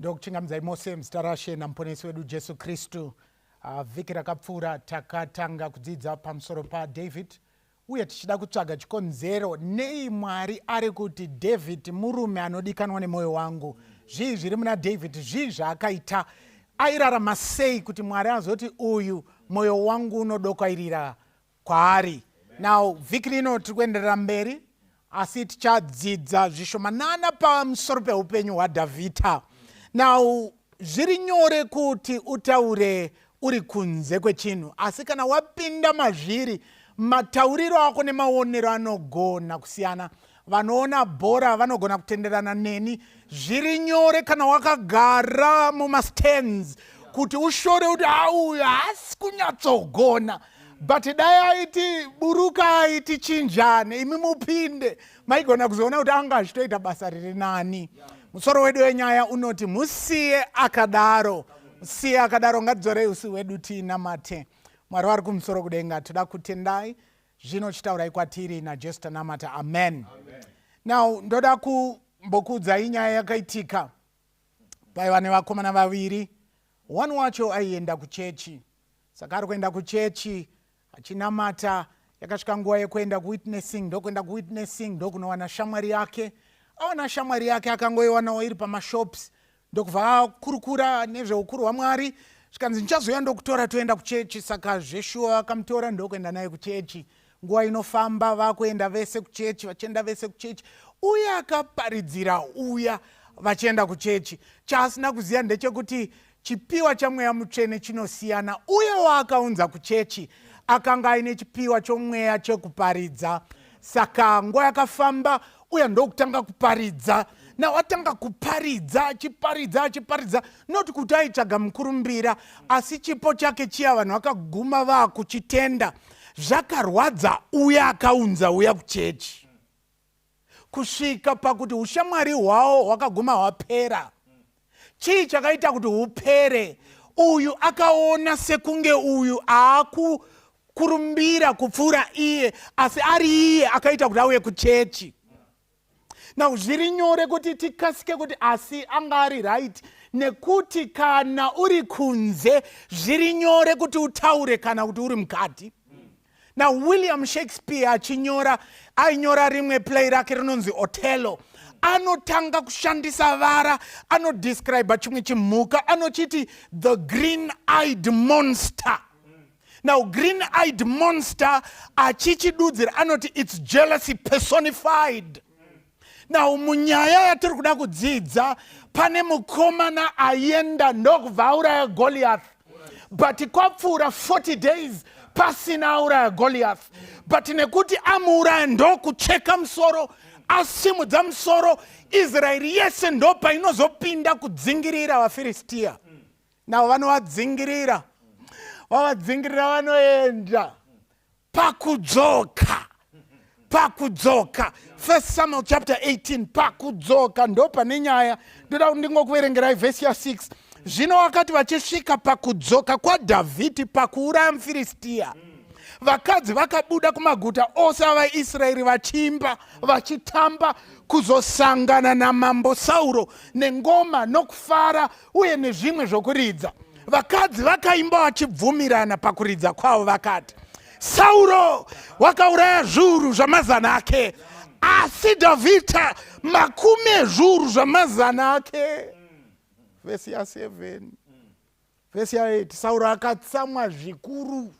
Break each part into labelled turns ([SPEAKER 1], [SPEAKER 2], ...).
[SPEAKER 1] ndokuchingamidzai mose muzita rashe namuponesi wedu jesu kristu ah, vhiki rakapfuura takatanga kudzidza pamusoro padavid uye tichida kutsvaga chikonzero nei mwari ari kuti david murume anodikanwa nemwoyo wangu zvii zviri muna david zvii zvaakaita airarama sei kuti mwari azoti uyu mwoyo wangu unodokwairira kwaari now vhiki rino tiri kuenderera mberi asi tichadzidza zvishomanana pamusoro peupenyu hwadhavhidha now zviri nyore kuti utaure uri kunze kwechinhu asi kana wapinda mazviri matauriro ako nemaonero anogona kusiyana vanoona bhora vanogona kutenderana neni zviri nyore kana wakagara mumastands kuti ushore kuti auyu haasi kunyatsogona but dai aiti burukai tichinjane imi mupinde maigona kuzoona kuti anga achitoita basa riri nani musoro wedu wenyaya unoti musiye akadaro musiye akadaro ngatidzorei usi hwedu tiinamate mwari wari kumusoro kudenga toda kutendai zvino chitaurai kwatiri najesu tanamata amen, amen. now ndoda kumbokuudzai nyaya yakaitika paiva nevakomana vaviri one wacho aienda kuchechi saka ari kuenda kuchechi achinamata yakasvika nguva yekuenda kuwitnessing ndokuenda kuwitnessing ndokunowana shamwari yake awana shamwari yake akangoiwanawo iri pamashops ndokubva akurukura nezveukuru hwamwari zvikanzi ndichazouya ndokutora toenda kuchechi saka zveshuwa vakamutora ndokuenda naye kuchechi nguva inofamba vakuenda vese kuchechi vachienda vese kuchechi uye akaparidzira uya vachienda kuchechi chaasina kuziva ndechekuti chipiwa chamweya mutsvene chinosiyana uye waakaunza kuchechi akanga aine chipiwa chomweya chekuparidza saka nguva yakafamba uya ndokutanga kuparidza now atanga kuparidza achiparidza achiparidza not kuti aitsvaga mukurumbira asi chipo chake chiya vanhu vakaguma vakuchitenda zvakarwadza uya akaunza uya kuchechi kusvika pakuti ushamwari hwawo hwakaguma hwapera chii chakaita kuti hupere uyu akaona sekunge uyu aakukurumbira kupfuura iye asi ari iye akaita kuti auye kuchechi now zviri nyore kuti tikasike kuti asi anga ari right nekuti kana uri kunze zviri nyore kuti utaure kana kuti uri mukati nawilliam shakespeare achinyora ainyora rimwe play rake rinonzi otello anotanga kushandisa vara anodescribe chimwe chimhuka anochiti the green eyed monster now green eyed monster achichidudzira anoti its jealousy personified now munyaya yatiri kuda kudzidza pane mukomana ayenda ndokubva auraya goliath but kwapfuura 40 days pasina auraya goliath but nekuti amuuraya ndokucheka musoro asimudza musoro israeri yese ndopainozopinda kudzingirira vafiristiya navo vanovadzingirira vavadzingirira vanoenda pakudzoka pakudzoka first samuel chapter 18 pakudzoka ndo pane nyaya ndoda kuti ndingokuverengerai vhesi ya 6 zvino wakati vachisvika pakudzoka kwadhavhidhi pakuuraya mufiristiya vakadzi vakabuda kumaguta ose avaisraeri vachimba vachitamba kuzosangana namambo sauro nengoma nokufara uye nezvimwe zvokuridza vakadzi vakaimba vachibvumirana pakuridza kwavo vakati sauro wakauraya zviuru zvamazana ake asi dhavhidha makumi ezviuru zvamazana ake vhesi ya 7 vhesi ya 8 sauro akatsamwa zvikuru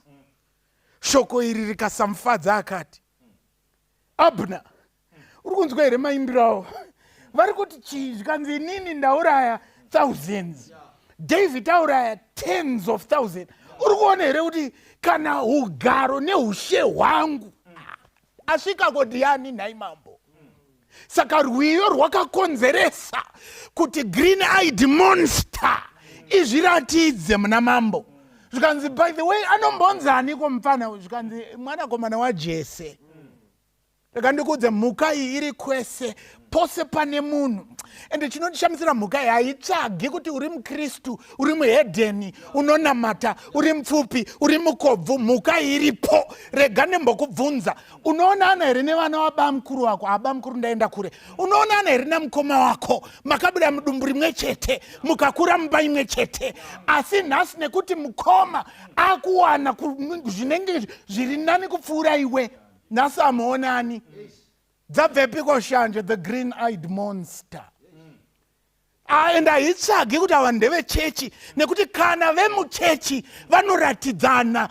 [SPEAKER 1] shoko iri rikasamufadza akati abner uri kunzwa here maimbiro avo vari kuti chii zvikanzi inini ndauraya thousands david tauraya tens of thousand uri kuona here kuti kana ugaro neushe hwangu asvika kodiani nhai mambo saka rwiyo rwakakonzeresa kuti green eyed monster izviratidze muna mambo zvikanzi by the way anombonzaniko mupfana uyu zvikanzi mwanakomana wajese rega ndikuudze mhuka iyi iri kwese pose pane munhu ende chinondishamisira mhuka iyi haitsvagi kuti uri mukristu uri muhedheni unonamata uri mupfupi uri mukobvu mhuka iyi iripo rega ndembokubvunza unoonana here nevana wabamukuru wako abamukuru ndaenda kure unoonana here namukoma wako makabuda mudumbu rimwe chete mukakura mumba imwe chete asi nhasi nekuti mukoma akuwana zvinenge zviri nani kupfuura iwe nhasi amuonani dzabvepiko shanje the green eyed monster and haitsvagi kuti ava ndevechechi nekuti kana vemuchechi vanoratidzana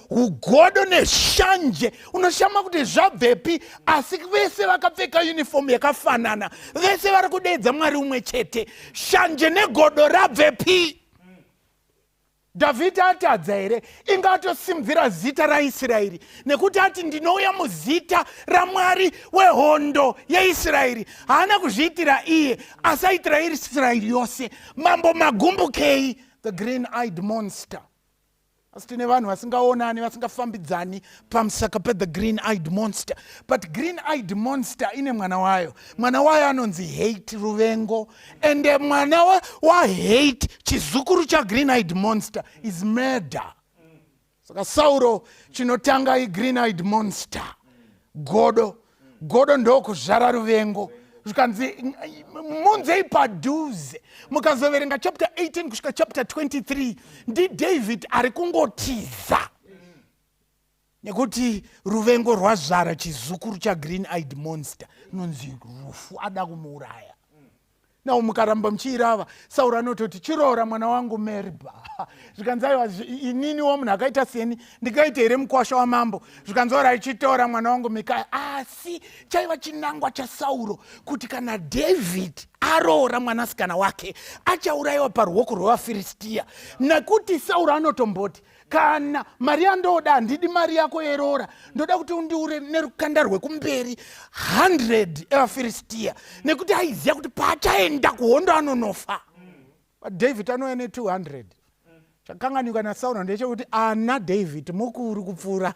[SPEAKER 1] ugodo neshanje unoshama kuti zvabvepi asi vese vakapfeka unifomu yakafanana vese vari kudeedza mwari umwe chete shanje negodo rabvepi Dhavhidhi atadza here? Inga atosimudzira zita raIsraeri nekuti ati ndinouya muzita raMwari wehondo yeIsraeri. Haana kuzviitira iye, asi aitira Israeri yose. Mambo magumbukei, the green eyed monster. Asi tine vanhu vasingaonani, vasingafambidzani pamusaka pe the green eyed monster. But green eyed monster ine mwana wayo. Mwana wayo anonzi hate, ruvengo. ende mwana wahate chizukuru chagreen eyed monster is murder saka sauro chinotanga igreen eyed monster godo godo ndokuzvara ruvengo zvikanzi munzei padhuze mukazoverenga chapter 18 kusvika chapter 23 ndidavid ari kungotiza nekuti ruvengo rwazvara chizukuru chagreen eyed monster inonzi rufu ada kumuuraya nao mukaramba muchiirava sauro anototi chiroora mwana wangu merba zvikanzi aiwa ininiwo munhu akaita seni ndingaite here mukwasha wamambo zvikanzi ora ichitora mwana wangu mikaya asi chaiva chinangwa chasauro kuti kana david aroora mwanasikana wake achaurayiwa paruoko rwevafiristiya nekuti sauro anotomboti kana mari yandoda handidi mari yako yeroora ndoda kuti undiure nerukanda rwekumberi 100 evafiristiya nekuti aiziva kuti paachaenda kuhondo anonofa david anouya ne200 chakanganika nasauro ndechekuti ana david mukuru kupfuura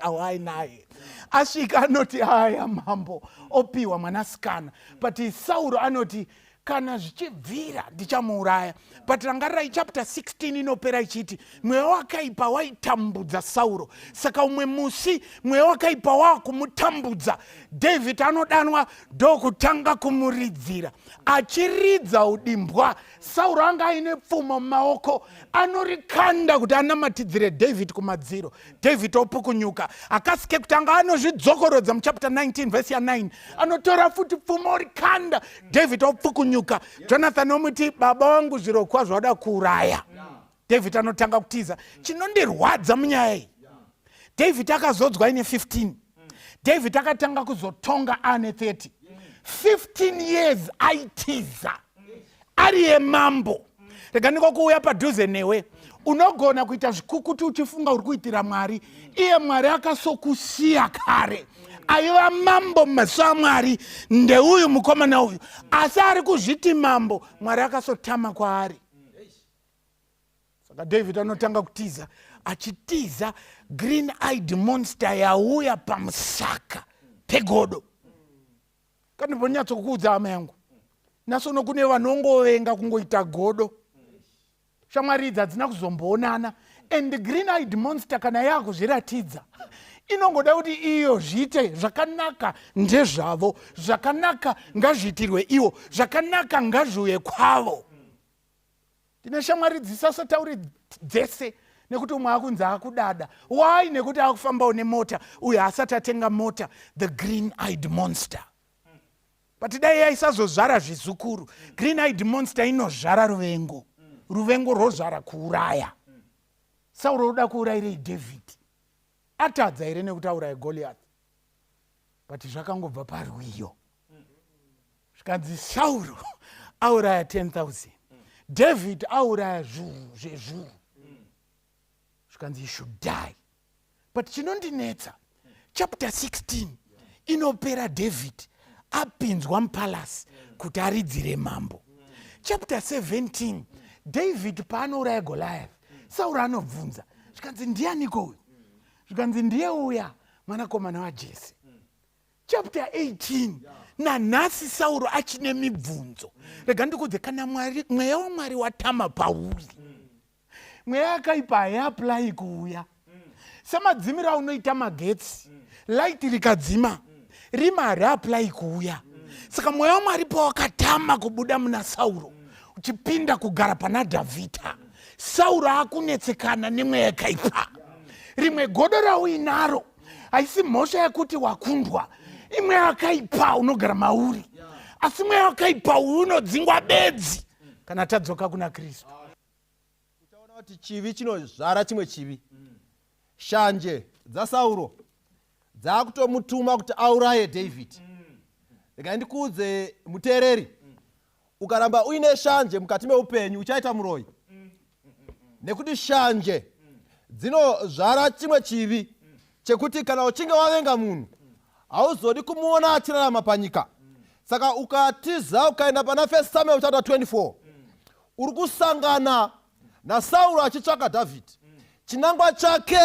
[SPEAKER 1] awainaye asvika anoti aya mambo opiwa mwanasikana but sauro anoti kana zvichibvira ndichamuuraya but rangarirai chapter 16 inopera ichiti mweya wakaipa waitambudza sauro saka umwe musi mweya wakaipa wakumutambudza david anodanwa ndokutanga kumuridzira achiridza udimbwa sauro anga aine pfumo mumaoko anorikanda kuti anamatidzire david kumadziro david opukunyuka hakasi kekutanga anozvidzokorodza muchapter 19 vhesi ya9 anotora futi pfuma orikanda david opukunyuka jonathan omuti baba wangu zviro kwazvo wada kuuraya david anotanga kutiza chinondirwadza munyaya iyi david akazodzwa ine 15 david akatanga kuzotonga ane 30 15 years aitiza ari yemambo rega ndiko kuuya padhuze newe unogona kuita zvikukuti uchifunga uri kuitira mwari iye mwari akasokusiya kare aiva mambo mumaso amwari ndeuyu mukomana uyu asi ari kuzviti mambo mwari akasotama kwaari saka david anotanga kutiza achitiza green eyed monster yauya pamusaka pegodo kandimbonyatsokuudza hama yangu nasono kune vanongovenga kungoita godo shamwari idzi hadzina kuzomboonana and green eyed monster kana yaakuzviratidza inongoda kuti iyo zviite zvakanaka ndezvavo zvakanaka ngazviitirwe ivo zvakanaka ngazviuye kwavo ndine shamwari dzisasotaure dzese nekuti umwe akunzi akudada why nekuti akufambawo nemota uyo haasati atenga mota the green eyed monster but dai yaisazozvara zvizukuru green eyed monster inozvara ruvengo ruvengo rwozvara kuuraya sauro uda kuurayirei david atadza here nekuti auraye goliath but zvakangobva parwiyo zvikanzi sauro auraya 10000 david auraya zvuru zvezvuru zvikanzi you should die but chinondinetsa chapter 16 inopera david apinzwa mupalasi kuti aridzire mambo chapter 17 david paanouraya goliath sauro anobvunza zvikanzi ndianiko uyu zvikanzi ndiye uya mwanakomana wajese chapter 18 nanhasi sauro achine mibvunzo rega ndikudze kana mwari mweya wamwari watama pauri mweya akaipa haiaplayi kuuya semadzimiro aunoita magetsi light rikadzima rima hariaplayi kuuya saka mweya wamwari pawakatama kubuda muna sauro uchipinda kugara pana dhavhidha sauro akunetsekana nemweya yakaipa rimwe godo rauinaro haisi mhosva yekuti wakundwa imwe yakaipa unogara mauri asi imwe yakaipa uyu unodzingwa bedzi kana tadzoka kuna kristu uchaona
[SPEAKER 2] kuti chivi chinozvara chimwe chivi shanje dzasauro dzaakutomutuma kuti auraye david rega ndikuudze muteereri ukaramba uine shanje mukati meupenyu uchaita muroyi nekuti shanje dzinozvara chimwe chivi chekuti kana uchinge wavenga munhu hauzodi kumuona achirarama panyika saka ukatiza ukaenda pana first samuel chapter 24 uri kusangana nasauro achitsvaka dhavhidhi chinangwa chake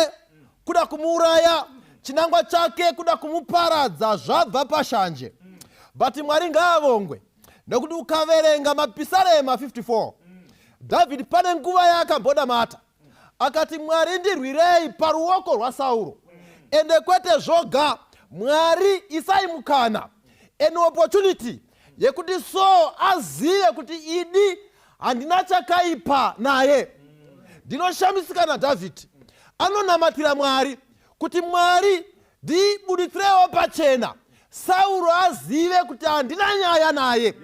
[SPEAKER 2] kuda kumuuraya chinangwa chake kuda kumuparadza zvabva pashanje but mwari ngaavongwe nekuti ukaverenga mapisarema 54 dhavhidhi pane nguva yaakamboda mata akati mwari ndirwirei paruoko rwasauro ende kwete zvoga mwari isai mukana an opportunity yekuti so azive kuti idi handina chakaipa naye ndinoshamisika nadhavhidhi anonamatira mwari kuti mwari ndibuditsirewo pachena sauro azive kuti handina nyaya naye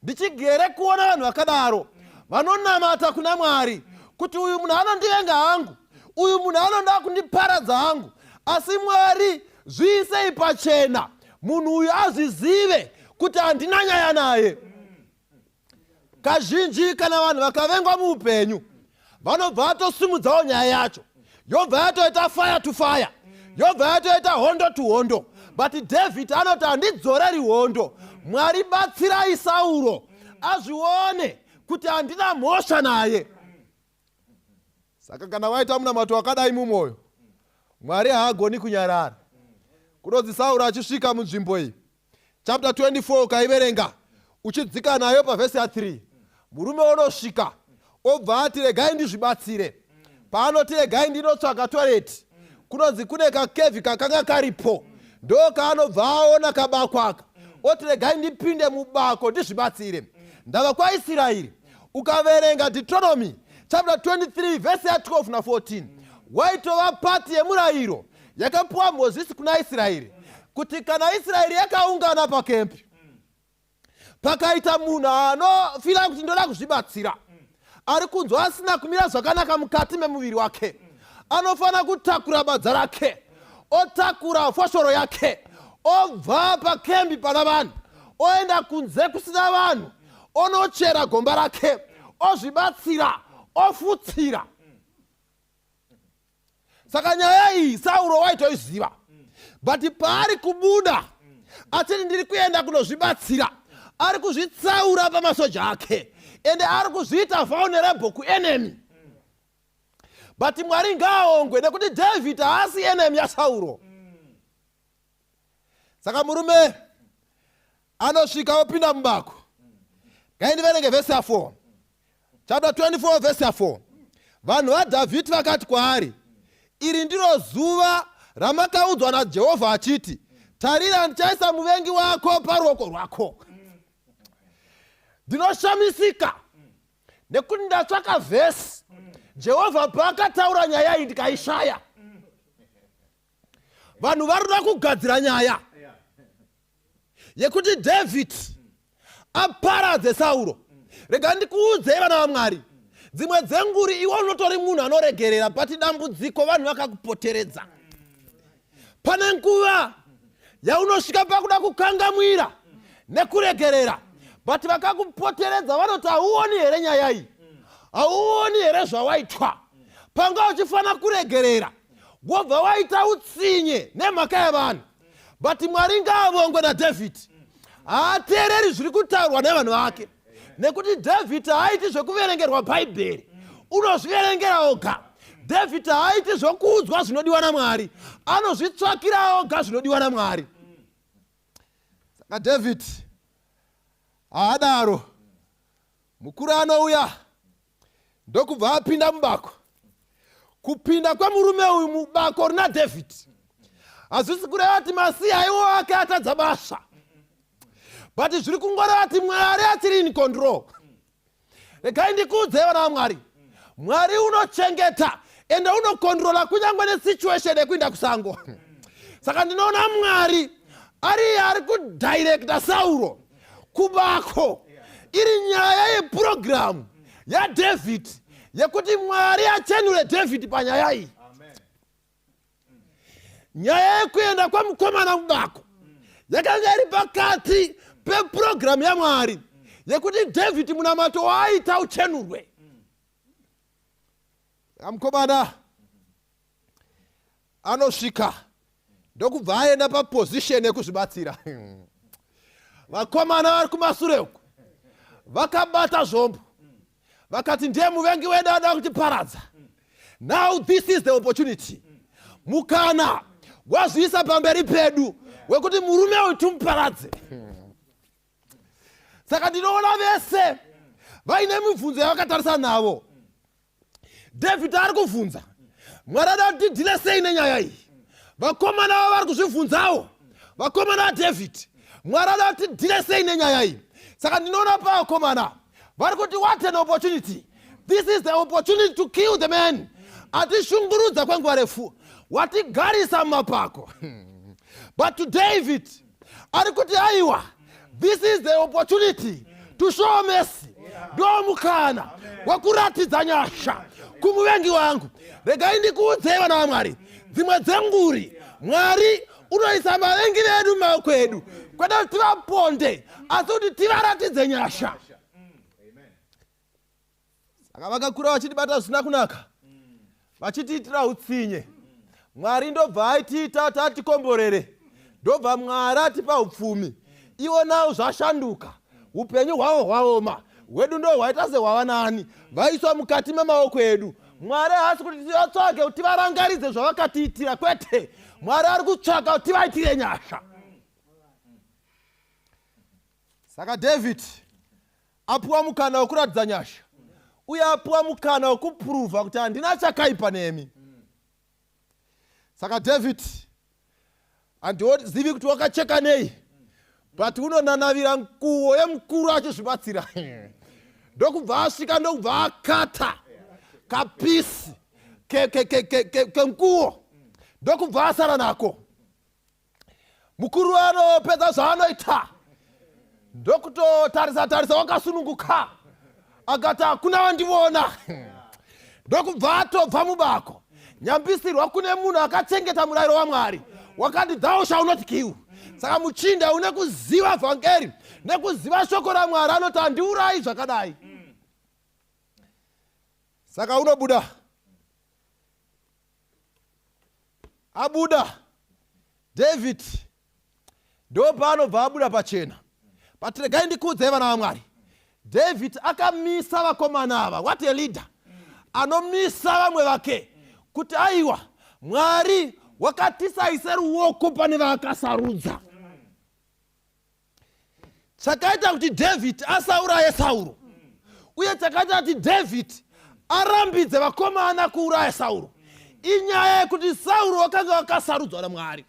[SPEAKER 2] ndichigere kuona vanhu vakadaro vanonamata kuna mwari kuti uyu munhu anondivenga hangu uyu munhu anoda kundiparadza hangu asi mwari zviisei pachena munhu uyu azvizive kuti handina nyaya naye kazhinji kana vanhu vakavengwa muupenyu vanobva vatosimudzawo nyaya yacho yobva yatoita fire to fire yobva yatoita hondo to hondo but david anoti handidzoreri hondo mwari batsirai sauro azvione kuti handina mhosva naye saka kana waita munamato wakadai mumwoyo mwari haagoni kunyarara kunonzi sauro achisvika munzvimbo iyi chapter 24 ukaiverenga uchidzika nayo pavhesi ya3 murume onosvika obva ati regai ndizvibatsire paanoti regai ndinotsvaka toreti kunonzi kune kakevhi kakanga karipo ndo kaanobva aona kabakwaka oti regai ndipinde mubako ndizvibatsire ndava kwaisirairi ukaverenga deuteronomy chapter 23 vhesi ya 12 na 14 waitova pati yemurayiro yakapiwa mozisi kuna israeri kuti kana israeri yakaungana pakempi pakaita munhu anofira kuti ndoda kuzvibatsira ari kunzwa asina kumira zvakanaka mukati memuviri wake anofanira kutakura badza rake otakura foshoro yake obva pakembi pana vanhu oenda kunze kusina vanhu onochera gomba rake ozvibatsira ofutsira saka nyaya iyi sauro waitoiziva but paari kubuda achiti ndiri kuenda kunozvibatsira ari kuzvitsaura pamasoja ake ende ari kuzviita vulnerable kuenemy but mwari ngaaongwe nekuti david haasi enemy yasauro saka murume anosvika opinda mubako ngaindiverenge vhesi ya4 chapta 24 vhesi ya4 vanhu vadhavhidhi vakati kwaari iri ndiro zuva ramakaudzwa najehovha achiti tarira ndichaisa muvengi wako paruoko rwako ndinoshamisika nekuti ndatsvaka vhesi jehovha paakataura nyaya iyi ndikaishaya vanhu varikuda kugadzira nyaya yekuti david aparadze sauro rega ndikuudzei vana vamwari dzimwe dzenguri iwe unotori munhu anoregerera but dambudziko vanhu vakakupoteredza pane nguva yaunosvika pakuda kukangamwira nekuregerera but vakakupoteredza vanoti hauoni here nyaya iyi hauoni here zvawaitwa panga uchifanira kuregerera wobva waita utsinye nemhaka yevanhu but mwari ngaavongwe nadhavhidhi haateereri zviri kutaurwa nevanhu vake nekuti dhavhidhi haaiti zvekuverengerwa bhaibheri unozviverengera oga dhavhidhi haaiti zvokuudzwa zvinodiwa namwari anozvitsvakira oga zvinodiwa namwari saka dhavhidhi haadaro mukuru anouya ndokubva apinda mubako kupinda kwemurume uyu mubako rina david hazvisi kureva kuti masiya aiwo ake atadza basa but zviri kungoreva kuti mwari asiri in control regai ndikuudzei vana vamwari mwari unochengeta ende unokontrola kunyange nesituation yekuinda kusango saka ndinoona mwari ari ari kudirecta sauro kubako iri nyaya yepurogiramu yadhavhidhi yekuti mwari achenure dhavhidhi panyaya iyi nyaya yekuenda kwemukomana kubako yakanga iri pakati pepurogiramu yamwari yekuti dhavhidhi munamato waaita uchenurwe amukomana anosvika ndokubva aenda paposition yekuzvibatsira vakomana vari kumasure uku vakabata zvombo vakati ndiye muvengi wedu ada kutiparadza now this is the opportunity mukana wazviisa pamberi pedu wekuti murume uyu timuparadze saka ndinoona vese vaine mibvunzo yavakatarisa navo david ari kuvhunza mwari ada kuti tidhile sei nenyaya iyi vakomana vavo vari kuzvivhunzawo vakomana vadavid mwari ada kuti tidhile sei nenyaya iyi saka ndinoona pavakomana vari kuti what an opportunity this is the opportunity to kill the man atishungurudza kwenguva refu watigarisa mumapako but to david ari kuti aiwa this is the opportunity to show mercy ndo mukana wekuratidza nyasha kumuvengi wangu regai ndikuudzei vana vamwari dzimwe dzenguri mwari unoisa vavengi vedu mumaoko edu kwete kuti tivaponde asi kuti tivaratidze nyasha saka vakakura vachitibata zvisina kunaka vachitiitira utsinye mwari ndobva aitiita tatikomborere ndobva mwari atipa upfumi ivo navo zvashanduka upenyu hwavo hwaoma hwedu ndo hwaita sehwava nani vaiswa mukati memaoko edu mwari haasi kuti tivatsvage kuti varangaridze zvavakatiitira kwete mwari ari kutsvaga kuti vaitire nyasha saka david apiwa mukana wekuratidza nyasha uye apiwa mukana wekupuruvha kuti handina chakaipa nemi saka david handizivi kuti wakacheka nei but unonanavira nguvo yemukuru achizvibatsira ndokubva asvika ndokubva akata kapisi kenguvo ndokubva asara nako mukuru anopedza zvaanoita ndokutotarisa tarisa wakasununguka akati hakuna vandivona ndokubva atobva mubako nyambisirwa kune munhu akachengeta murayiro wamwari wakati thou shall not kill saka muchinda une kuziva vhangeri nekuziva shoko ramwari anoti handiurayi zvakadai saka unobuda abuda david ndo paanobva abuda pachena but regai ndikuudzai vana vamwari david akamisa vakomana ava what a leader anomisa vamwe vake kuti aiwa mwari wakatisaise ruoko pane vaakasarudza chakaita kuti dhavhidhi asauraye sauro uye chakaita kuti dhavhidhi arambidze vakomana kuuraya sauro inyaya yekuti sauro wakanga wakasarudzwa namwari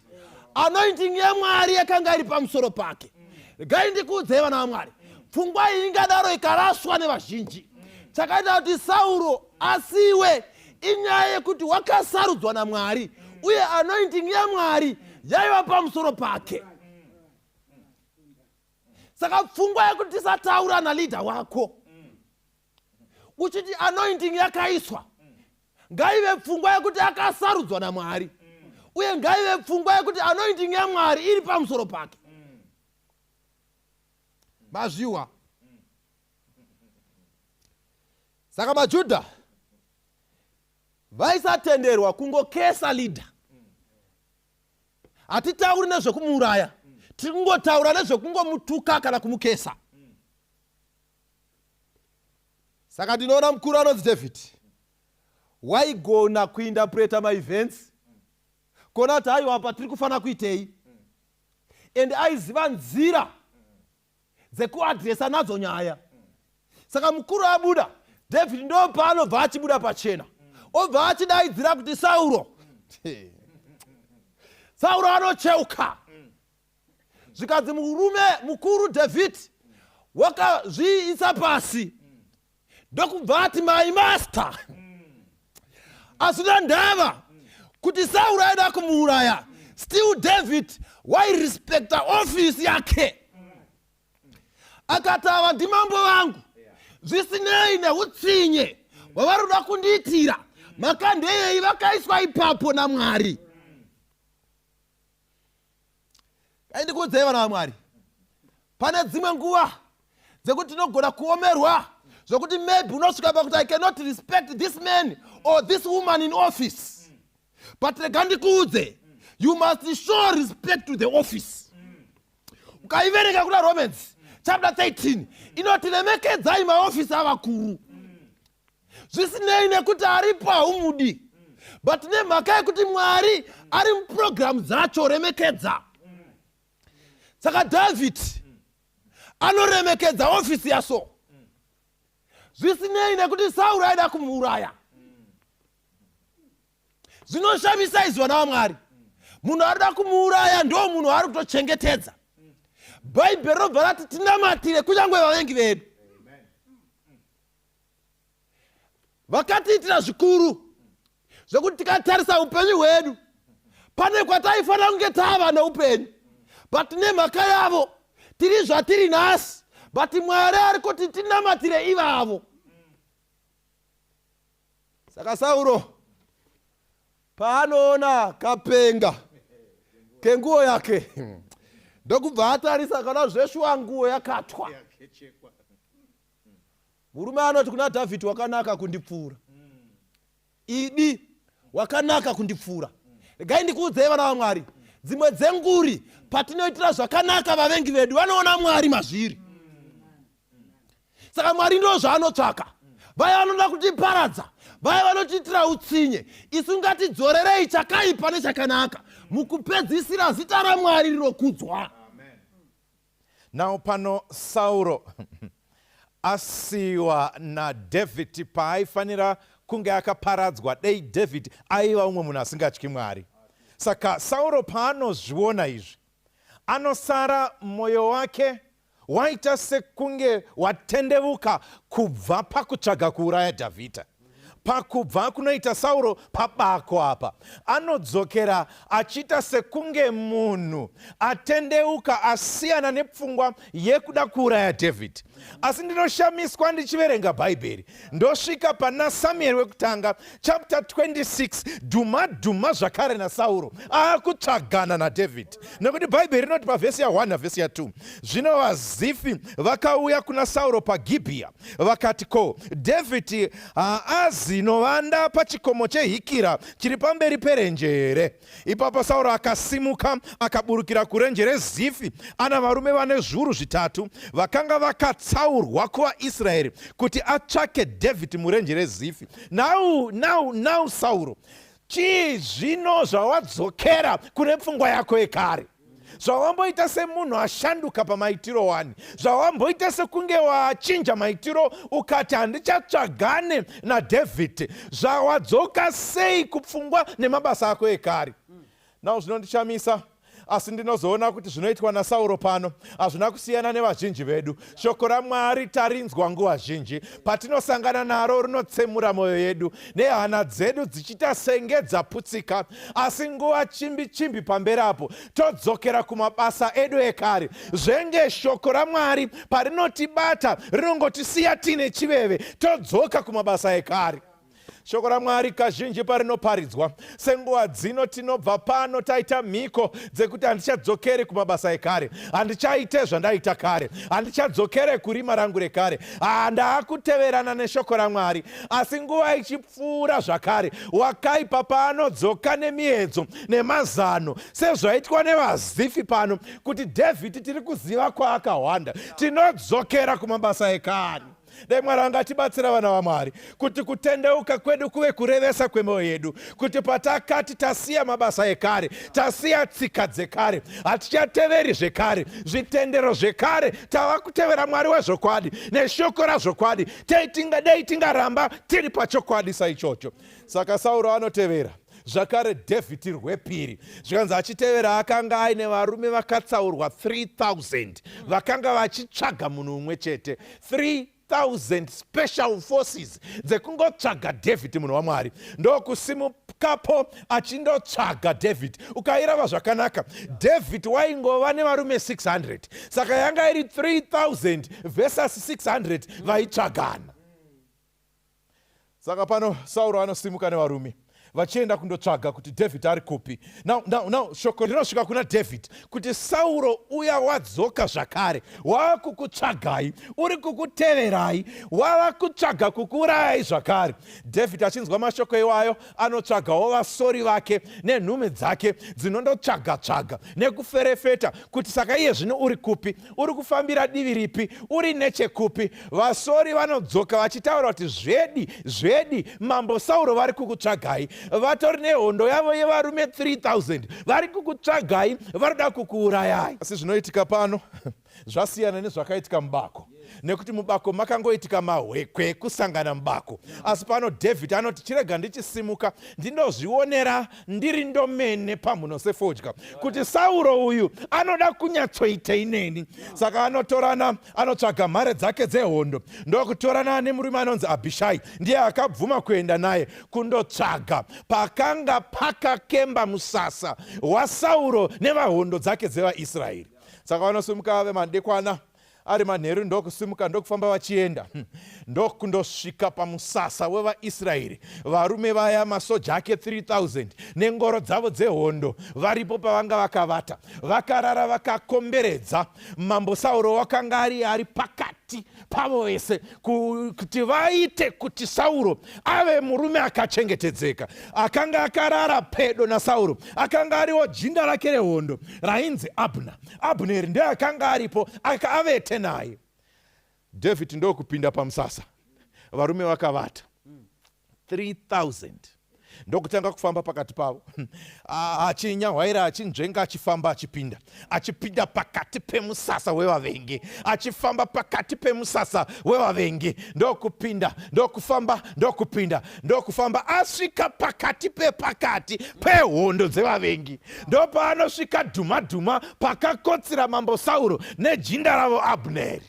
[SPEAKER 2] anointing yemwari yakanga iri pamusoro pake regai ndikuudzei vana vamwari pfungwa iyi ingadaro ikaraswa nevazhinji chakaita kuti sauro asiwe inyaya yekuti wakasarudzwa namwari uye anointing yamwari yaiva pamusoro pake saka pfungwa yekuti tisataura naleader wako uchiti anointing yakaiswa ngaive pfungwa yekuti akasarudzwa namwari uye ngaive pfungwa yekuti anointing yamwari iri pamusoro pake mazviwa saka majudha vaisatenderwa kungokesa leader hatitauri nezvekumuuraya tiri kungotaura nezvekungomutuka kana kumukesa saka ndinoona mukuru anonzi david waigona kuindapreta maevents kona kuti aiwa patiri kufanira kuitei and aiziva nzira dzekuadresa nadzo nyaya saka mukuru abuda david ndo paanobva achibuda pachena obva achidaidzira kuti sauro sauro anocheuka zvikanzi murume mukuru david wakazviisa pasi ndokubva ati mai masta asina ndava kuti sauro aida kumuuraya still david wairespecta ofisi yake akati ava ndimambo vangu zvisinei neutsinye hwavari kuda kundiitira makandeyei vakaiswa ipapo namwari dai ndikuudzai vana vamwari pane dzimwe nguva dzekuti tinogona kuomerwa zvokuti maybe unosvika pakuti i cannot respect this man or this woman in office but rega ndikuudze you must show respect to the office ukaiverenga kuna romans chapter 13 inoti remekedzai maofisi avakuru zvisinei nekuti aripo haumudi but nemhaka yekuti mwari ari muprogramu dzacho remekedza saka david anoremekedza ofisi yaso zvisinei nekuti sauro aida kumuuraya zvinoshamisa izwa navamwari munhu arida kumuuraya ndo munhu waari kutochengetedza bhaibheri robva rati tinamatire kunyange vavengi vedu vakatiitira zvikuru zvekuti tikatarisa upenyu hwedu pane kwataifanira kunge tava neupenyu but nemhaka yavo tiri zvatiri nhasi but mwari ari kuti tinamatire ivavo saka sauro paanoona kapenga kenguo yake ndokubva atarisa kana zveshuwa nguo yakatwa murume anoti kuna dhavhidhi wakanaka kundipfuura idi wakanaka kundipfuura regai ndikuudzei vana vamwari dzimwe dzenguri patinoitira zvakanaka vavengi vedu vanoona mwari mazviri saka mwari ndo zvaanotsvaka vaya vanoda kutiparadza vaya vanotiitira utsinye isu ngatidzorerei chakaipa nechakanaka mukupedzisira zita ramwari rinokudzwa
[SPEAKER 3] Now pano Sauro asiwa naDhavid paaifanira kunge akaparadzwa dei David aiva umwe munhu asingatyi Mwari. Saka Sauro paanozviona izvi anosara mwoyo wake waita sekunge watendevuka kubva pakutsvaga kuuraya Dhavhidha. pakubva kunoita sauro pabako apa anodzokera achiita sekunge munhu atendeuka asiyana nepfungwa yekuda kuuraya dhavhidhi asi ndinoshamiswa ndichiverenga bhaibheri ndosvika pana samueri wekutanga chapter 26 dhuma dhuma zvakare nasauro akutsvagana nadhavhidhi nekuti bhaibheri rinoti pavhesi ya1 navhesi ya2 zvino vazifi vakauya kuna sauro pagibhiya vakati ko dhavhidhi haazi novanda pachikomo chehikira chiri pamberi perenje here ipapo sauro akasimuka akaburukira kurenje rezifi ana varume vane zviuru zvitatu vakanga vakatsaurwa kuvaisraeri kuti atsvake dhavhidhi murenje rezifi nau nau nau sauro chii zvino zvawadzokera kune pfungwa yako yekare zvawamboita semunhu ashanduka pamaitiro wani zvawamboita sekunge wachinja maitiro ukati handichatsvagane nadhavhidhi zvawadzoka sei kupfungwa nemabasa ako ekare nao zvinondishamisa asi ndinozoona kuti zvinoitwa nasauro pano hazvina kusiyana nevazhinji vedu Shoko raMwari tarinzwa nguva zhinji, patinosangana naro rinotsemura mwoyo yedu nehana dzedu dzichiita senge dzaputsika, asi nguva chimbi chimbi pamberi apo todzokera kumabasa edu ekare. Zvenge shoko raMwari parinotibata rinongotisiya tiine chiveve, todzoka kumabasa ekare. shoko ramwari kazhinji parinoparidzwa senguva dzino tinobva pano taita mhiko dzekuti handichadzokeri kumabasa ekare handichaite zvandaita kare handichadzokere kurima rangu rekare handaakuteverana ah, neshoko ramwari asi nguva ichipfuura zvakare wakaipa paanodzoka nemiedzo nemazano sezvaitwa nevazifi pano kuti dhavhidhi tiri kuziva kwaakahwanda tinodzokera kumabasa ekare dai mwari vanga atibatsira vana vamwari kuti kutendeuka kwedu kuve kurevesa kwemwoyo yedu kuti patakati tasiya mabasa ekare tasiya tsika dzekare hatichateveri zvekare zvitendero zvekare tava kutevera mwari wezvokwadi neshoko razvokwadi dai tingaramba tiri pachokwadi saichocho saka sauro anotevera zvakare david rwepiri zvikanzi achitevera akanga aine varume vakatsaurwa 3000 vakanga vachitsvaga munhu umwe chete 3000 special forces dzekungotsvaga david munhu wamwari ndokusimukapo achindotsvaga david ukairava zvakanaka david waingova nevarume 600 saka yanga iri 3000 versus 600 vaitsvagana saka pano sauro anosimuka nevarume vachienda kundotsvaga kuti david ari kupi now, now, now shoko rinosvika kuna david kuti sauro uya wadzoka zvakare wava kukutsvagai uri kukuteverai wava kutsvaga kukuurayai zvakare david achinzwa mashoko iwayo anotsvagawo vasori vake nenhume dzake dzinondotsvaga tsvaga nekuferefeta kuti saka iye zvino uri kupi uri kufambira divi ripi uri nechekupi vasori vanodzoka vachitaura kuti zvedi zvedi mambo sauro vari kukutsvagai vatori nehondo yavo yevarume 3000 vari kukutsvagai varikuda kukuurayai asi zvinoitika pano zvasiyana nezvakaitika mubako nekuti mubako makangoitika mahwekwe kusangana mubako asi pano david anoti chirega ndichisimuka ndinozvionera ndiri ndomene pamhuno sefodya kuti sauro uyu anoda kunyatsoitei neni saka anotorana anotsvaga mhare dzake dzehondo ndokutorana nemurume anonzi abhishai ndiye akabvuma kuenda naye kundotsvaga pakanga pakakemba musasa wasauro nevahondo dzake dzevaisraeri saka vanosimuka ave madekwana ari manheru ndokusimuka ndokufamba vachienda hm. ndokundosvika pamusasa wevaisraeri varume vaya masoja ake 3000 nengoro dzavo dzehondo varipo pavanga vakavata vakarara vakakomberedza mambo sauro wakanga ari ari pakati pakati pavo vese kuti vaite kuti sauro ave murume akachengetedzeka akanga akarara pedo nasauro akanga ariwo jinda rake rehondo rainzi abna abneri ndiye akanga aripo akaavete naye dhavhidhi ndokupinda pamusasa varume vakavata 3000 ndokutanga kufamba pakati pavo achinyahwaira achinzvenga achifamba achipinda achipinda pakati pemusasa wevavengi achifamba pakati pemusasa wevavengi ndokupinda ndokufamba ndokupinda ndokufamba asvika pakati pepakati pehondo dzevavengi ndopaanosvika dhumadhuma pakakotsira mambo sauro nejinda ravo abneri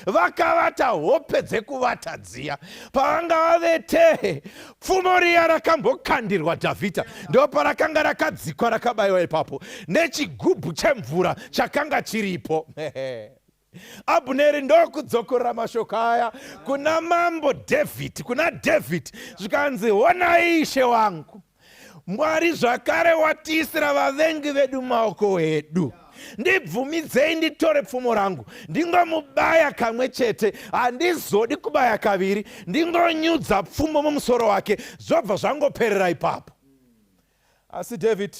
[SPEAKER 3] vakavata hope dzekuvata dziya pavanga vavetehe pfumo riya rakambokandirwa dhavhidha ndo parakanga rakadzikwa rakabayiwa ipapo nechigubhu chemvura chakanga chiripo abuneri ndokudzokorera mashoko aya kuna mambo dhavhidhi kuna dhavhidhi zvikanzi honai ishe wangu Mwari zvakare watiisira vavengi vedu maoko edu yeah ndibvumidzei nditore pfumo rangu ndingomubaya kamwe chete handizodi kubaya kaviri ndingonyudza pfumo mumusoro wake zvobva zvangoperera ipapo asi david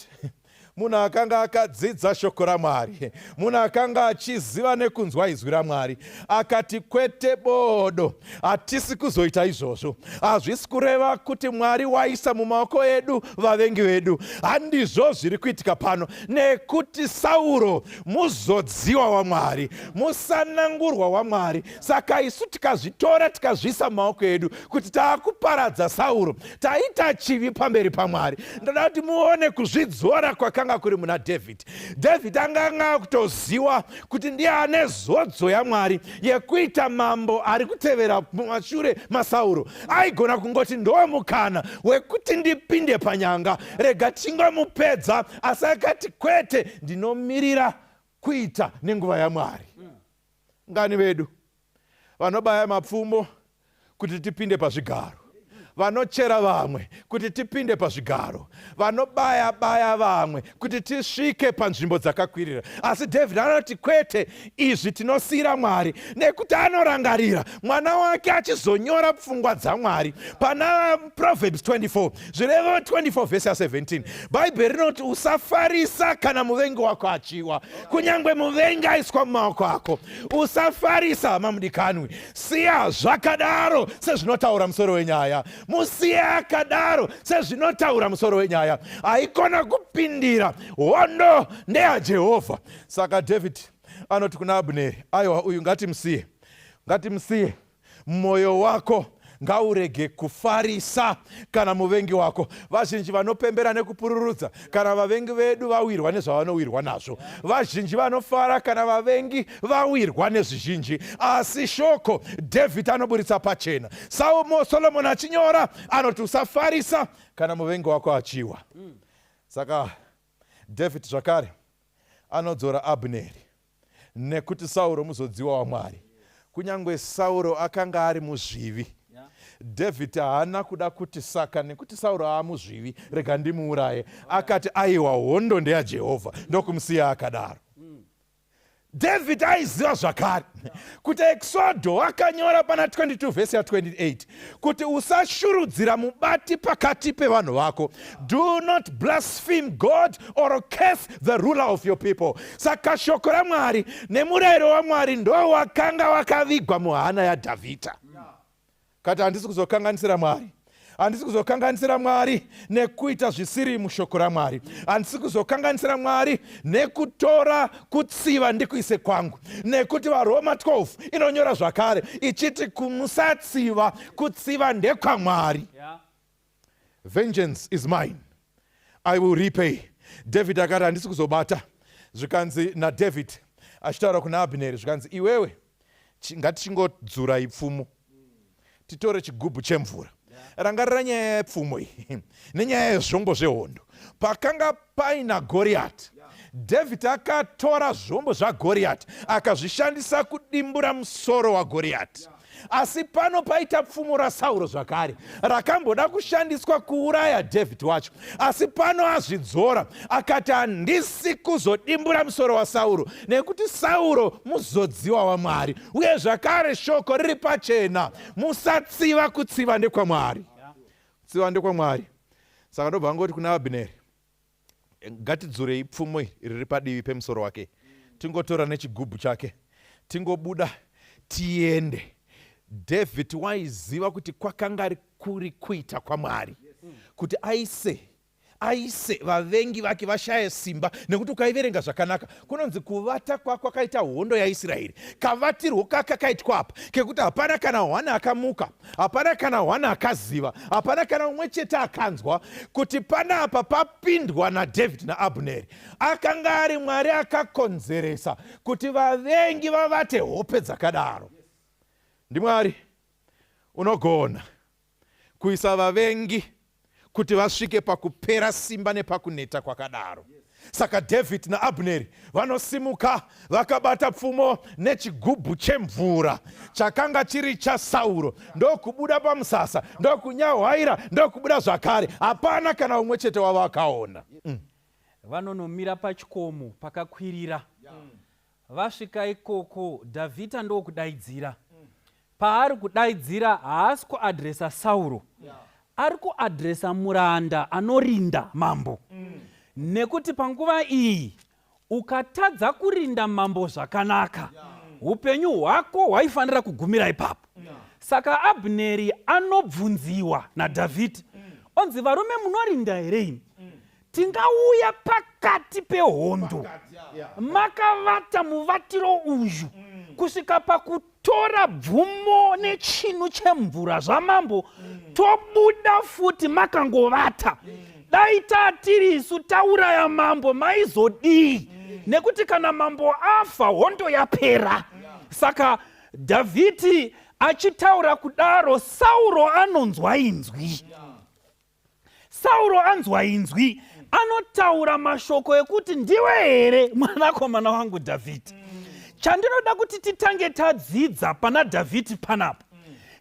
[SPEAKER 3] munhu akanga akadzidza shoko ramwari munhu akanga achiziva nekunzwa izwi ramwari akati kwete bodo hatisi kuzoita izvozvo hazvisi kureva kuti mwari waisa mumaoko edu vavengi vedu handizvo zviri kuitika pano nekuti sauro muzodziwa wamwari musanangurwa wamwari saka isu tikazvitora tikazviisa mumaoko edu kuti taakuparadza sauro taita chivi pamberi pamwari ndoda kuti muone kuzvidzora kwakanga kuri muna dhavhidhi dhavhidhi anganga kutoziwa kuti ndiye ane zodzo yamwari yekuita mambo ari kutevera mumashure masauro aigona kungoti ndowe mukana wekuti ndipinde panyanga rega tingomupedza asi akati kwete ndinomirira kuita nenguva yamwari ngani vedu vanobaya mapfumo kuti tipinde pazvigaro vanochera vamwe kuti tipinde pazvigaro vanobaya baya vamwe kuti tisvike panzvimbo dzakakwirira asi david anoti kwete izvi tinosiyira mwari nekuti anorangarira mwana wake achizonyora pfungwa dzamwari pana proverbs 24 zvirevo 24 vhesi ya 17 bhaibheri rinoti usafarisa kana muvengi wako achiwa kunyange muvengi aiswa mumaoko ako usafarisa hama mudikanwi siya zvakadaro sezvinotaura musoro wenyaya musiye akadaro sezvinotaura musoro wenyaya haikona kupindira hondo ndeyajehovha saka dhavhidhi anoti kuna abuneri aiwa uyu ngatimusiye ngatimusiye Moyo wako ngaurege kufarisa kana muvengi wako. Vazhinji vanopembera nekupururudza kana vavengi vedu vawirwa nezvavanowirwa nazvo. Vazhinji vanofara kana vavengi vawirwa nezvizhinji. Asi shoko Dhavhidhi anoburitsa pachena, Saumo Solomoni achinyora anoti, usafarisa kana muvengi wako achiwa. Saka Dhavhidhi zvakare anodzora Abneri nekuti Sauro muzodziwa waMwari. Kunyangwe Sauro akanga ari muzvivi, David haana kuda kuti saka nekuti Sauro aamuzvivi, rega ndimuuraye. Akati aiwa, hondo ndeyaJehovha, ndokumusiya akadaro. David aiziva zvakare kuti Exodo wakanyora pana 22 vhesi ya 28 kuti usashurudzira mubati pakati pevanhu vako do not blaspheme god or curse the ruler of your people saka shoko ramwari nemurayiro wamwari ndowakanga wakavigwa muhana yadhavhidha kati handisi kuzokanganisira mwari handisi kuzokanganisira mwari nekuita zvisiri mushoko ramwari handisi kuzokanganisira mwari nekutora kutsiva ndikuise kwangu nekuti varoma 12 inonyora zvakare ichiti kumusatsiva kutsiva ndekwamwari yeah. vengeance is mine i will repay david akati handisi kuzobata zvikanzi nadavid achitaura kuna abhineri zvikanzi iwewe ngatichingodzura ipfumo titore chigubhu chemvura rangarira nyaya yepfumo iyi nenyaya yezvombo zvehondo pakanga paina goriyati dhavhidhi akatora zvombo zvagoriyati akazvishandisa kudimbura musoro wagoriyati asi pano paita pfumo rasauro zvakare rakamboda kushandiswa kuuraya dhavhidhi wacho asi pano azvidzora akati handisi kuzodimbura musoro wasauro nekuti sauro muzodziwa wamwari uye zvakare shoko riri pachena musatsiva kutsiva ndekwamwari kutsiva ndekwamwari saka ndobva angoti kuna abhineri ngatidzurei pfumo riri padivi pemusoro wake tingotora nechigubhu chake tingobuda tiende david waiziva kuti kwakanga kuri kuita kwamwari kuti aise aise vavengi vake vashaye simba nekuti ukaiverenga zvakanaka kunonzi kuvata kwakwakaita hondo yaisraeri kavatirwo kakakaitwa apa kekuti hapana kana hwana akamuka hapana kana hwana akaziva hapana kana umwe chete akanzwa kuti pana apa papindwa nadhavhidhi naabhuneri akanga ari mwari akakonzeresa kuti vavengi vavate hope dzakadaro ndimwari yes Unogona kuisa vavengi kuti vasvike pakupera simba nepakuneta kwakadaro. Saka Dhavhidhi naAbneri vanosimuka vakabata pfumo nechigubhu chemvura chakanga chiri chaSauro, ndokubuda pamusasa, ndokunyahwaira, ndokubuda zvakare. Hapana kana umwe chete wavo akaona. Mm.
[SPEAKER 4] Vanonomira pachikomo pakakwirira. Mm. Vasvika ikoko Dhavhidha ndokudaidzira. Paari kudaidzira haasi kuadresa Sauro. Yeah. Ari kuadresa muranda anorinda mambo. Mm. Nekuti panguva iyi ukatadza kurinda mambo zvakanaka yeah. upenyu hwako hwaifanira kugumira ipapo. Yeah. Saka Abneri anobvunziwa naDhavhidhi. Mm. Onzi varume munorinda here imi? Mm. tingauya pakati pehondo makavata muvatiro uyu mm. kusvika pakutora bvumo nechinu chemvura zvamambo mm. tobuda futi makangovata mm. dai tatiri isu tauraya mambo maizodii nekuti kana mambo afa hondo yapera saka dhavhidhi achitaura kudaro sauro anonzwa inzwi sauro anzwa inzwi anotaura mashoko ekuti ndiwe here mwanakomana wangu dhavhidhi chandinoda kuti titange tadzidza pana dhavhidhi panapa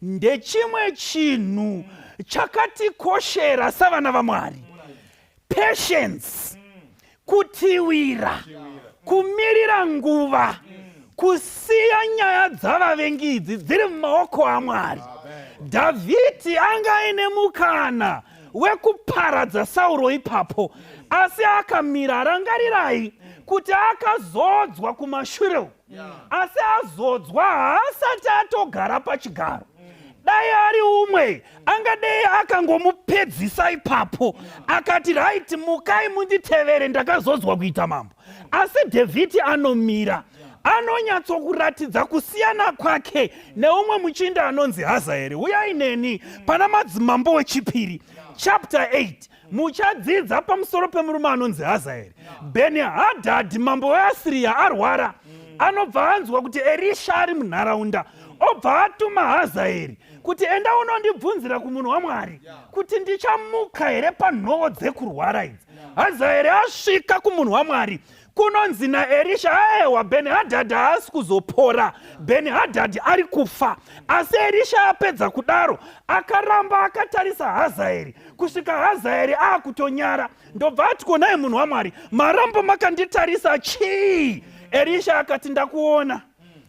[SPEAKER 4] ndechimwe chinhu chakatikoshera savana vamwari patience kutiwira kumirira nguva kusiya nyaya dzavavengi idzi dziri mumaoko amwari dhavhidhi anga aine mukana wekuparadza sauro ipapo asi akamira rangarirai kuti akazodzwa kumashure uku asi azodzwa haasati atogara pachigaro dai ari umwe angadei akangomupedzisa ipapo akati raiti mukai munditevere ndakazodzwa kuita mambo asi dhavhidhi anomira anonyatsokuratidza kusiyana kwake neumwe muchinda anonzi hazaeri uyai neni pana madzimambo wechipiri chapter 8 muchadzidza pamusoro pemurume anonzi hazaeri bheni hadhadhi mambo weasiriya arwara anobva anzwa kuti erisha ari munharaunda obva atuma hazaeri kuti enda unondibvunzira kumunhu wamwari kuti ndichamuka here panhovo dzekurwara idzi hazaeri asvika kumunhu wamwari kunonzi naerisha aewa beni hadhadhi haasi kuzopora beni hadhadhi ari kufa asi erisha apedza kudaro akaramba akatarisa hazaeri kusvika hazaeri aakutonyara ndobva ati konai munhu wamwari marambo makanditarisa chii erisha akati ndakuona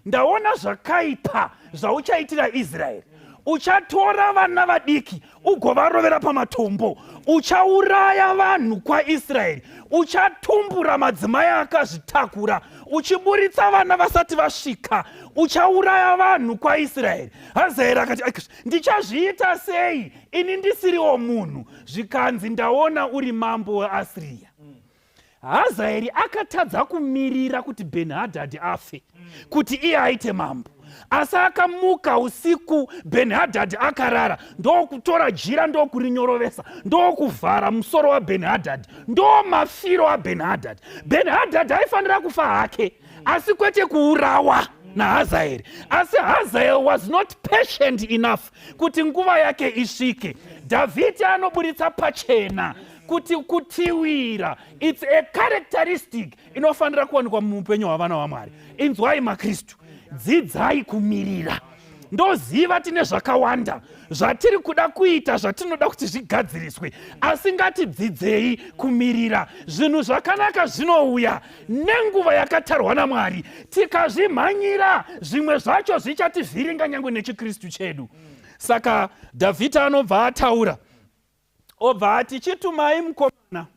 [SPEAKER 4] ndaona zvakaipa zvauchaitira israeri uchatora vana vadiki ugovarovera pamatombo uchauraya vanhu kwaisraeri uchatumbura madzimai akazvitakura uchiburitsa vana vasati vasvika uchauraya vanhu kwaisraeri hazaeri akati ndichazviita sei ini ndisiriwo munhu zvikanzi ndaona uri mambo weasiriya hazaeri akatadza kumirira kuti benhadhadhi afe kuti iye aite mambo asi akamuka usiku benhadhadhi akarara ndokutora jira ndokurinyorovesa ndokuvhara musoro wabenhadhadhi ndo mafiro abenhadhadhi benhadhadhi aifanira kufa hake asi kwete kuurawa nahazaeri asi hazaeri was not patient enough kuti nguva yake isvike dhavhidhi anoburitsa pachena kuti kutiwira its a characteristic inofanira kuwanikwa muupenyu hwavana hwamwari inzwai makristu dzidzai kumirira ndoziva tine zvakawanda zvatiri kuda kuita zvatinoda kuti zvigadziriswe asi ngatidzidzei kumirira zvinhu zvakanaka zvinouya nenguva yakatarwa namwari tikazvimhanyira zvimwe zvacho zvichativhiringa nyange nechikristu chedu saka dhavhidha anobva ataura obva ati chitumai mukomana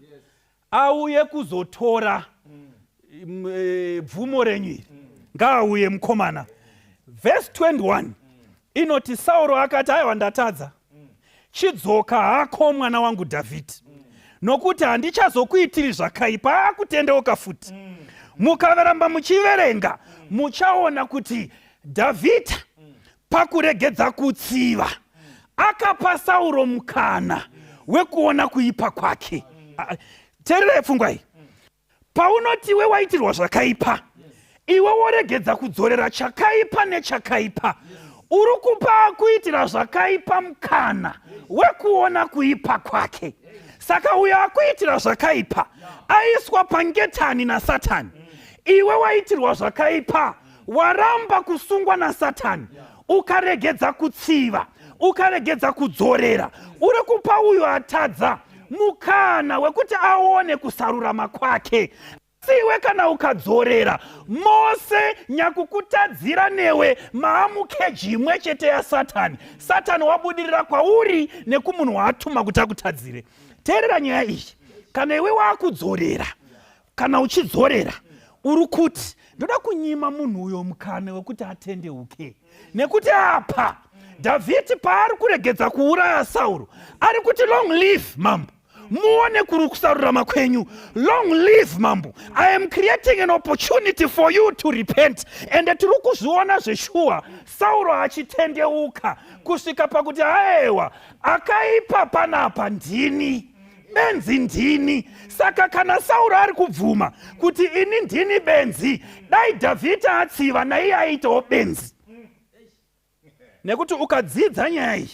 [SPEAKER 4] auye kuzotora mm, eh, bvumo renyu iri mm. ngaauye mukomana vhesi 21 mm. inoti sauro akati aiwa ndatadza chidzoka hako mwana wangu dhavhidhi nokuti handichazokuitiri zvakaipa akutendeuka futi mukaveramba muchiverenga muchaona kuti dhavhidha Pakuregedza kutsiva, akapa Sauro mukana wekuona kuipa kwake. Tererai pfungwa iyi. Paunoti iwe waitirwa zvakaipa, iwe woregedza kudzorera chakaipa nechakaipa, uri kupa akuitira zvakaipa mukana wekuona kuipa kwake. Saka uyo akuitira zvakaipa aiswa pangetani naSatani, iwe waitirwa zvakaipa waramba kusungwa nasatani ukaregedza kutsiva ukaregedza kudzorera uri kupa uyo atadza mukana wekuti aone kusarurama kwake siwe kana ukadzorera mose nyakukutadzira newe maamukeji imwe chete yasatani satani wabudirira kwauri nekumunhu waatuma kuti akutadzire teerera nyaya iyi kana iwe waakudzorera kana uchidzorera uri kuti ndoda kunyima munhu uyo mukana wekuti atendeuke nekuti apa dhavhidhi paari kuregedza kuuraya sauro ari kuti long live mambo muone kuri kusarurama kwenyu long live mambo i am creating an opportunity for you to repent ende tiri kuzviona zveshuwa sauro achitendeuka kusvika pakuti aewa akaipa panapa ndini benzi ndini saka kana sauro ari kubvuma kuti ini ndini benzi dai dhavhidha atsiva naiye aiitawo benzi nekuti ukadzidza nyaya iyi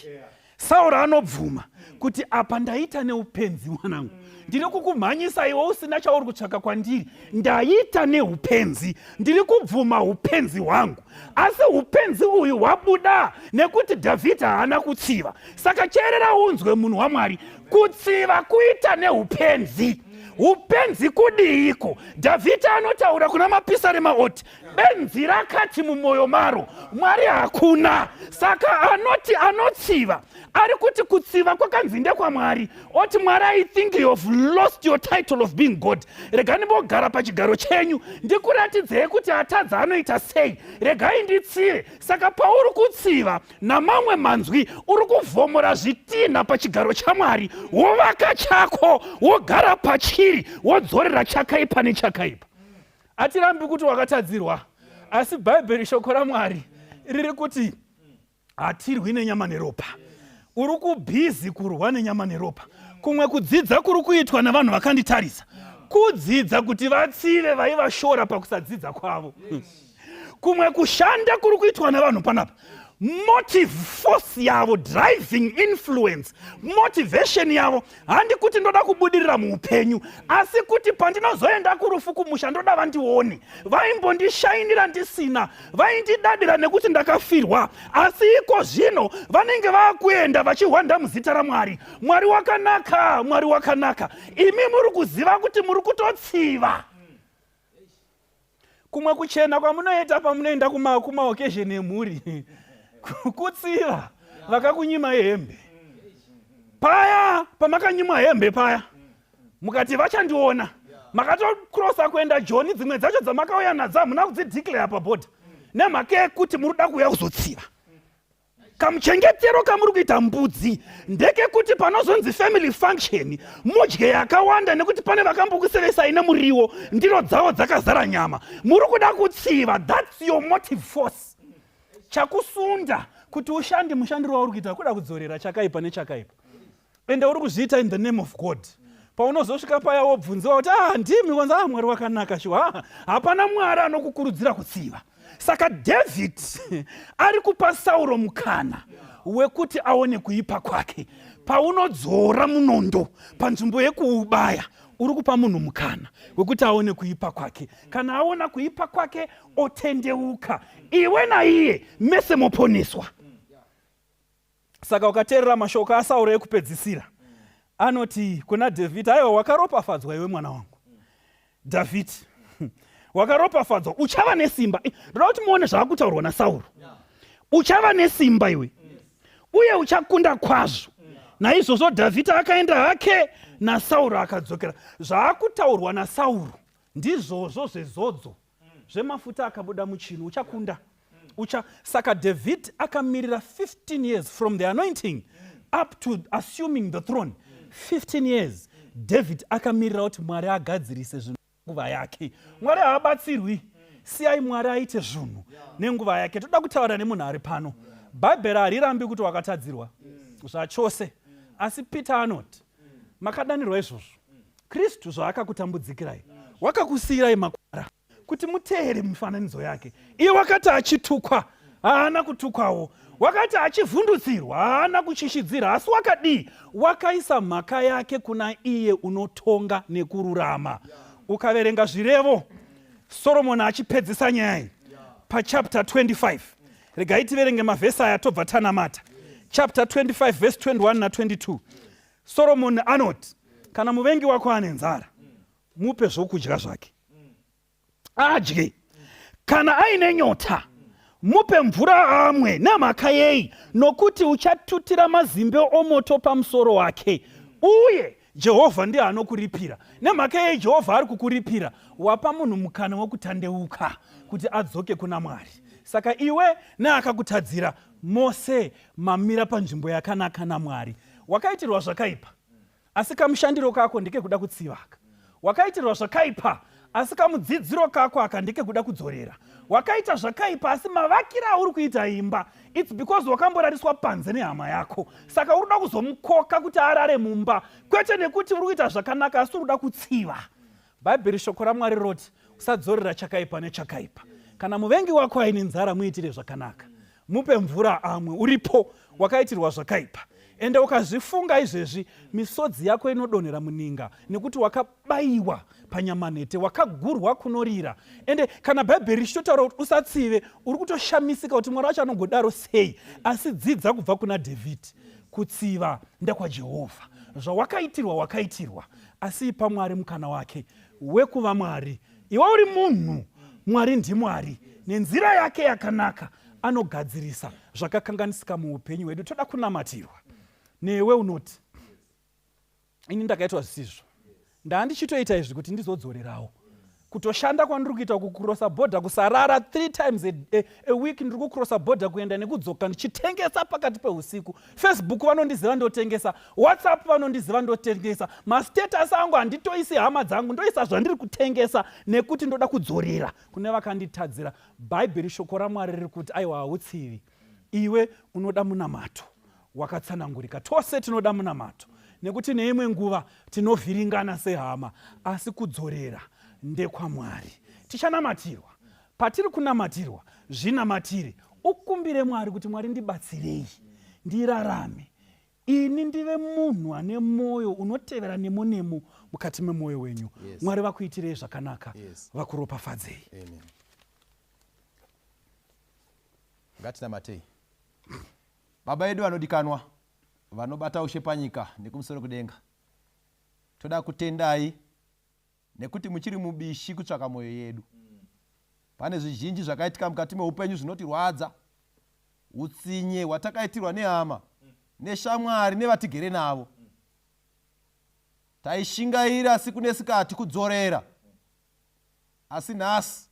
[SPEAKER 4] sauro anobvuma kuti apa ndaita neupenzi mwanangu ndiri kukumhanyisa iwe usina chauri kutsvaka kwandiri ndaita neupenzi ndiri kubvuma upenzi hwangu asi upenzi uyu hwabuda nekuti dhavhidha haana kutsiva saka cherera unzwe munhu wamwari kutsiva kuita neupenzi upenzi kudiiko dhavhidha anotaura kuna mapisarema oti benzi rakati mumwoyo maro mwari hakuna saka anoti anotsiva ari kuti kutsiva kwakanzi ndekwamwari oti mwari i think you have lost your title of being god rega ndimbogara pachigaro chenyu ndikuratidzei kuti atadza anoita sei regai nditsive saka pauri kutsiva namamwe manzwi uri kuvhomora zvitinha pachigaro chamwari wovaka chako wogara pachiri wodzorera chakaipa nechakaipa hatirambi kuti wakatadzirwa asi bhaibheri shoko ramwari riri kuti hatirwi nenyama neropa uri kubhizi kurwa nenyama neropa kumwe kudzidza kuri kuitwa navanhu vakanditarisa kudzidza kuti vatsive vaivashora pakusadzidza kwavo yes. kumwe kushanda kuri kuitwa nevanhu panapa motive force yavo driving influence motivation yavo handi kuti ndoda kubudirira muupenyu asi kuti pandinozoenda kurufu kumusha ndoda vandione vaimbondishainira ndisina vaindidadira nekuti ndakafirwa asi iko zvino vanenge vakuenda vachihwanda muzita ramwari mwari wakanaka mwari wakanaka imi muri kuziva kuti muri kutotsiva kumwe kuchena kwamunoita pamunoenda kumaokesheni emhuri kutsiva vakakunyima hembe paya pamakanyimwa hembe paya mukati vachandiona makatokrosa kuenda joni dzimwe dzacho dzamakauya nadzo hamuna kudzideclare pabhodha nemhaka yekuti muri kuda kuuya kuzotsiva kamuchengetero kamuri kuita mbudzi ndekekuti panozonzi family function mudye yakawanda nekuti pane vakambokusevesai nemuriwo ndiro dzavo dzakazara nyama muri kuda kutsiva thats your motive force chakusunda kuti ushandi mushandiro wauri kuita kuda kudzorera chakaipa nechakaipa ende uri kuzviita in the name of god paunozosvika paya wobvunziwa kuti ah ndimi wanzi ah mwari wakanaka shuwa ah, hapana mwari anokukurudzira kutsiva saka david ari kupa sauro mukana wekuti aone kuipa kwake paunodzora munondo panzvimbo yekuubaya uri kupa munhu mukana wekuti aone kuipa kwake kana aona kuipa kwake otendeuka iwe naiye mese moponeswa saka ukateerera mashoko asauro ekupedzisira anoti kuna dhavhidhi aiwa wakaropafadzwa iwe mwana wangu dhavhidhi wakaropafadzwa uchava nesimba eh, ndoda kuti muone zvaakutaurwa nasauro uchava nesimba iwe uye uchakunda kwazvo naizvozvo dhavhidhi akaenda hake nasauro akadzokera zvaakutaurwa nasauro ndizvozvo zvezodzo zvemafuta akabuda muchinhu uchakunda ucha saka david akamirira 15 years from the anointing up to assuming the throne 15 years david akamirira kuti mwari agadzirise zvinhu nguva yake mwari haabatsirwi siyai mwari aite zvinhu nenguva yake toda kutaura nemunhu ari pano bhaibheri harirambi kuti wakatadzirwa zvachose asi peter anoti makadanirwa izvozvo kristu zvaakakutambudzikirai wakakusiyirai makwara kuti muteere mifananidzo yake iye wakati achitukwa haana kutukwawo wakati achivhundutsirwa haana kuchishidzira asi wakadii wakaisa mhaka yake kuna iye unotonga nekururama ukaverenga zvirevo soromoni achipedzisa nyaya iyi pachapter 25 regai tiverenge mavhesi aya tobva tanamata chapter 25 verse 21 na22 soromoni anoti kana muvengi wako ane nzara mupe zvokudya zvake adye kana aine nyota mupe mvura amwe nemhaka yei nokuti uchatutira mazimbe omoto pamusoro wake uye Jehovha ndiye anokuripira. Nemhaka yei Jehovha ari kukuripira? Wapa munhu mukana wokutandeuka kuti adzoke kuna Mwari. Saka iwe neakakutadzira mose mamira panzvimbo yakanaka naMwari. Wakaitirwa zvakaipa, asi kamushandiro kako ndekekuda kutsivaka. Wakaitirwa zvakaipa, asi kamudzidziro kako aka ndekekuda kudzorera wakaita zvakaipa asi mavakira auri kuita imba its because wakamborariswa panze nehama yako saka uri kuda kuzomukoka kuti arare mumba kwete nekuti uri kuita zvakanaka asi uri kuda kutsiva bhaibheri shoko ramwari roti usadzorera chakaipa nechakaipa kana muvengi wako aine nzara muitire zvakanaka mupe mvura amwe uripo wakaitirwa zvakaipa ende ukazvifunga izvezvi misodzi yako inodonhera muninga nekuti wakabayiwa panyamanete wakagurwa kunorira ende kana bhaibheri richitotaura kuti usatsive uri kutoshamisika kuti mwari wacho anongodaro sei asi dzidza kubva kuna dhavhidhi kutsiva ndekwajehovha zvawakaitirwa wakaitirwa asi ipa mwari mukana wake wekuva mwari iwe uri munhu mwari ndimwari nenzira yake yakanaka anogadzirisa zvakakanganisika muupenyu hwedu toda kunamatirwa newe unoti ini ndakaitwa zvisizvo ndaa ndichitoita izvi kuti ndizodzorerawo kutoshanda kwandiri kuita kucrossa border kusarara three times a, a, a week ndiri kucrossa border kuenda nekudzoka ndichitengesa pakati peusiku Facebook vanondiziva ndotengesa, WhatsApp vanondiziva ndotengesa, mastatus angu handitoisi hama dzangu, ndoisa zvandiri kutengesa nekuti ndoda kudzorera kune vakanditadzira. Bhaibheri shoko raMwari riri kuti aiwa hautsivi, iwe unoda munamato wakatsanangurika. Tose tinoda munamato nekuti neimwe nguva tinovhiringana sehama, asi kudzorera ndekwaMwari. Tichanamatirwa Patiri kunamatirwa, zvinamatire. Ukumbire Mwari kuti, Mwari, ndibatsirei ndirarame ini ndive munhu ane mwoyo unotevera nemo nemo mukati memwoyo wenyu yes. mwari vakuitirei zvakanaka yes. vakuropafadzei
[SPEAKER 2] ngatinamatei baba yedu vanodikanwa vanobata ushe panyika nekumusoro kudenga toda kutendai Nekuti muchiri mubishi kutsvaka mwoyo yedu. Pane zvizhinji zvakaitika mukati meupenyu zvinotirwadza. Utsinye hwatakaitirwa nehama, neshamwari nevatigere navo. Taishingaira siku nesikati kudzorera. Asi nhasi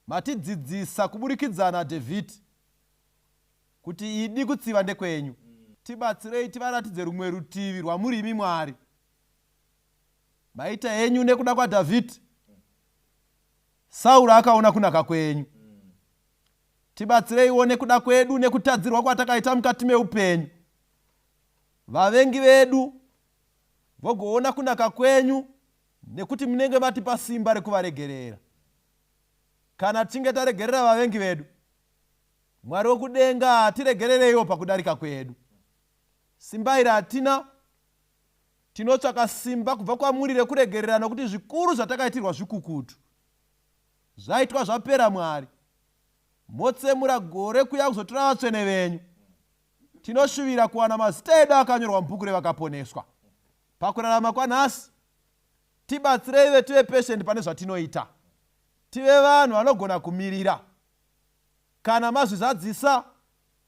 [SPEAKER 2] matidzidzisa kuburikidzana David kuti idi kutsiva ndekwenyu. Tibatsirei tivaratidze rumwe rutivi rwamuri imi Mwari. maita henyu nekuda kwadhavhidhi sauro akaona kunaka kwenyu tibatsireiwo nekuda kwedu nekutadzirwa kwatakaita mukati meupenyu vavengi vedu vogoona kunaka kwenyu nekuti munenge matipa simba rekuvaregerera kana tichinge taregerera vavengi vedu mwari wokudenga hatiregerereiwo pakudarika kwedu simba iri hatina Tinotsvaka simba kubva kwamuri rekuregerera nokuti zvikuru zvatakaitirwa zvikukutu. Zvaitwa zvapera Mwari. Motsemura gore kuya kuzotora vatsvene venyu. Tinoshuvira kuwana mazita edu akanyorwa mubhuku revakaponeswa. Pakurarama kwanhasi, tibatsirei ve tive patient pane zvatinoita. Tive vanhu vanogona kumirira. Kana mazvizadzisa,